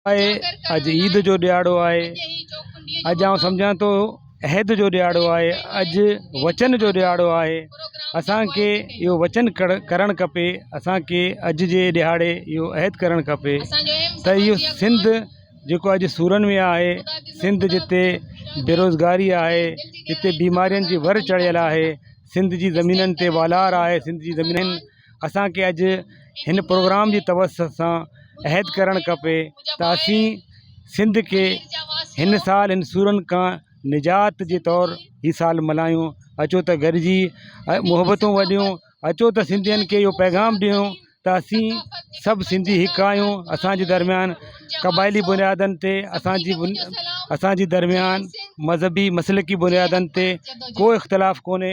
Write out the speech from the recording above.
اڄ عيد جو ڏهاڙو آهي، اڄ آئون سمجهان ٿو عهد جو ڏهاڙو آهي، اڄ وچن جو ڏهاڙو آهي، اسان کي اهو وچن ڪرڻ کپي، اسان کي اڄ جي ڏهاڙي اهو عهد ڪرڻ کپي ته اهو سنڌ جيڪو اڄ سورن ۾ آهي، سنڌ جتي بيروزگاري آهي، جتي بيمارين جي ور چڙهيل آهي، سنڌ جي زمينن تي والار آهي، سنڌ جي زمينن اسان کي اڄ هن پروگرام جي توسط سان عهد ڪرڻ کپي ته اسين سنڌ کي هن سال هن سورن کان نجات جي طور هي سال ملهايون اچو ته گڏجي محبتون وڏيون اچو ته سنڌين کي اهو پيغام ڏيون ته اسين سڀ سنڌي هڪ آهيون اسانجي درميان قبائلي بنيادن تي اسانجي اسانجي درميان مذهبي مسلڪي بنيادن تي ڪو اختلاف ڪونهي